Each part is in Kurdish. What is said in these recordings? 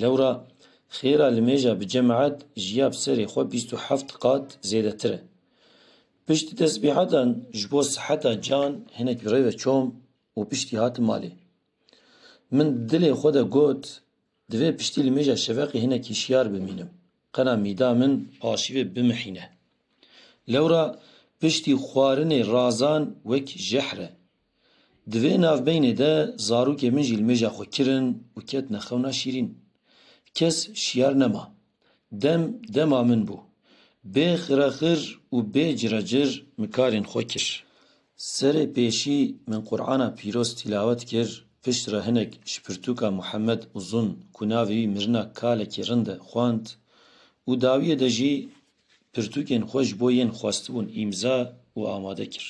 Lewra xêra li mêja bi cemaet jiya bi serê xwe bîst û heft qat zêdetir e. Piştî tesbîhetan ji bo siheta can hinek bi rê ve çom û piştî hatim malê. Min di dilê xwe de got, divê piştî li mêja şeveqê hinek hişyar bimînim, qena mîda min paşivê bimihîne. Lewra piştî xwarinê razan wek jehr e, Di vê navbeynê de zarokê min jî li mêja xwe kirin û ketine xewna şîrîn. Kes şiyar nema. Dem dema min bû. Bê xirexir û bê cirecir min karên xwe kir. Serê pêşî min Qur'ana pîroz tîlawet kir, pişt re hinek ji pirtûka Muhammed Uzun ku navê wî mirina kalekî rind e xwend û dawiyê de jî pirtûkên xwe ji bo yên xwestibûn îmza û amade kir.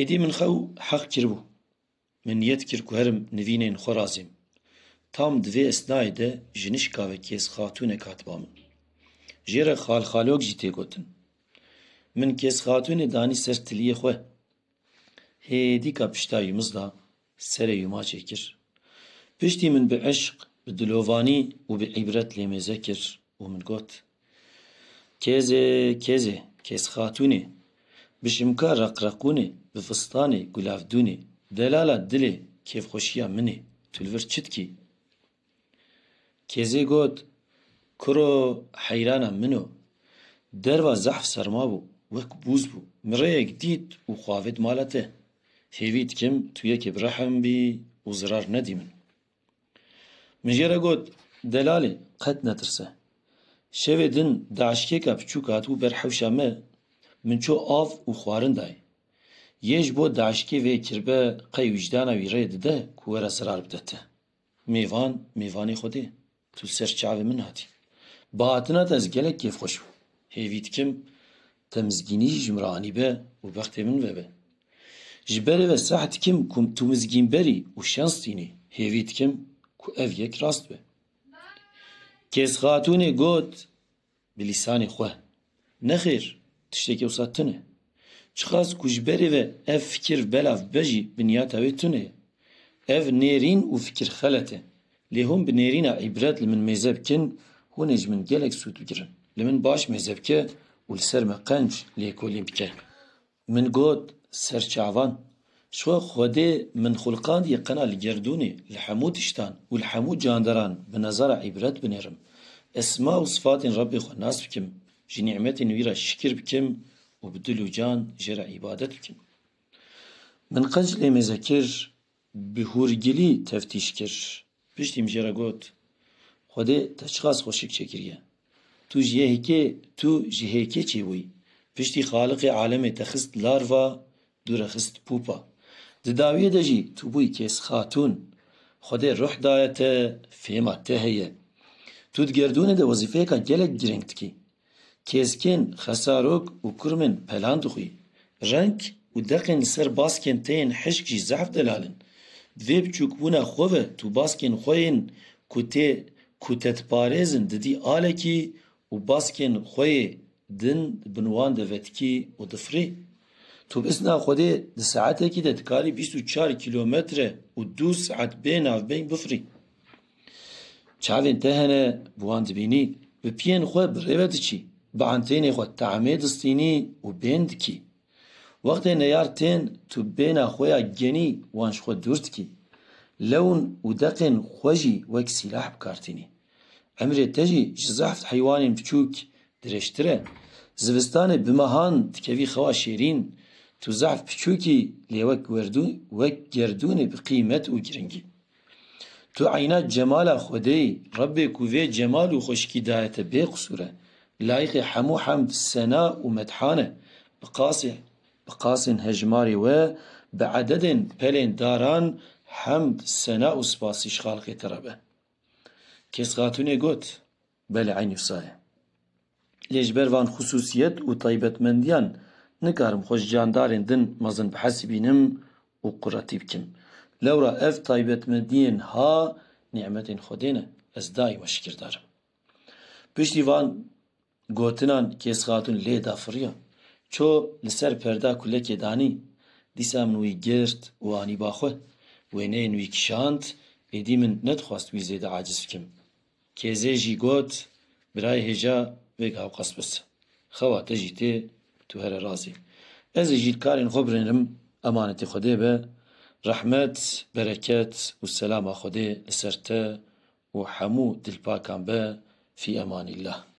Êdî min xew heq kiribû. Min niyet kir ku herim nivînên xwe razêm. Tam di vê esnayê de ji nişka ve Kêzxatûnek hat ba min. Jê re Xalxalok jî tê gotin. Min Kêzxatûnê danî ser tiliyê xwe. Hêdîka pişta yûmizda Serê û maçê kir. Piştî min bi îşq, bi dilovanî û bi îbret lê mêze kir û min got, Kêzê, kêzê, kêzxatûnê, bi şimka reqreqûnê, bi fistanê gulavdûnê, delala dilê kêfxweşiya min î, tu li vir çi dikî? Kêzê got, Kuro heyrana min o. Derva zehf serma bû, wek bûz bû. Min rêyek dît û xwe avêt mala te. Hêvî dikim tu yekê bi rehm bî û zirar nedî min. Min jê re got, Delalê, qet netirse. Şevê din daişkêka piçûk hatibû ber hewşa me, min çû av û xwarin dayê. Yê ji bo daişkê vê kirbe qey wîcdana wî rê dide ku were zirar bide te. Mêvan, mêvanê Xwedê, tu li ser çavê min hatî. Bi hatina te ez gelek kêfxweş bûm. Hêvî dikim te mizgînî jî ji min re anîbe û bextê min vebe. Ji berê ve seh dikim ku tu mizgînber î û şens tînî. Hêvî dikim ku ev yek rast be. Kêzxatûnê got. Bi lîsanê xwe. Nexêr, tiştekî wisa tune. Çiqas ku ji berê ve ev fikir belav bibe jî binyata wê tune ye. Ev nêrîn û fikir xelet e. Lê hûn bi nêrîna îbret li min mêze bikin, hûn ê ji min gelek sûd bigirin. Li min baş mêze bike û li ser me qenc lêkolîn bike. Min got, Ser çavan. Ji xwe Xwedê min xulqandiye qena li gerdûnê, li hemû tiştan û li hemû candaran bi nezara îbret binêrim. Esma û sifatên Rebbê xwe nas bikim, ji nîmetên wî re şikir bikim û bi dil û can jê re îbadet bikim. Min qey ji lê mêze kir, bi hûrgilî teftîş kir. Piştî min jê re got, Xwedê te çiqas xweşik çêkiriye. Tu ji yekê tu ji hêkê çêbûyî. Piştî Xaliqê alemê te xist larva, dû re xist pûpa. Di dawiyê de jî tu bûyî kêsxatûn. Xwedê ruh daye te, fêma te heye. Tu di gerdûnê de wezîfeyeka gelek girîng dikî. Kêskên xesarok û kurmên pelan dixwî. Reng û deqên li ser baskên te yên hişk jî zehf delal in. Di vê biçûkbûna xwe ve tu baskên xwe yên ku tê ku te diparêzin didî alekî û baskên xwe yê din bi wan de vetikî û difirî. Tu bi izna Xwedê di saetekî de dikarî bîst û çar kîlometre û du saet bê navbeyî bifirî. Çavên te hene bi wan dibînî, bi piyên xwe bi rê ve diçî, bi entênê xwe tahmê distînî û bên dikî. Wextê neyar tên tu bêna xwe ya genî wan ji xwe dûr dikî. Lewn û deqên xwe jî wek sîlah bi kar tînî. Emrê te jî ji zehf heywanên biçûk dirêjtir e. Zivistanê bi mehan dikevî xewa şêrîn, tu zehf biçûk î lê wek werdûn wek gerdûnê bi qîmet û giringî. Tu eyna cemala Xwedê yî. Rebbê ku vê cemal û xweşikî daye te bêqisûr e. Layiqê hemû hemd, sena û methan e. Bi qasê bi qasên hejmarê we, bi ededên pelên daran hemd, sena û spasî ji xalqê te re be. Kes Xatûnê got, Belê eynî wisa ye. Lê ji ber van xisûsiyet û taybetmendiyan nikarim xwe ji candarên din mezin bihesibînim û quretî bikim. Lewra ev taybetmendiyên ha nîmetên Xwedê ne. Ez daîma şikirdar im. Piştî van gotinan Kêz Xatûn lê da firiya. Ço li ser perda ku lekê danî. Dîsa min wî girt û anî ba xwe. Wêneyên wî kişand. Êdî min nedixwast wî zêde aciz bikim. Kêzê jî got, Birayê hêja vêga ew qas pirs e. Xewa te jî tê, tu here rast î. Ez ê jî karên xwe binêrim, emanetê Xwedê be. Rehmet, bereket û selama Xwedê li ser te û hemû dilpakan be, fî emanîllah.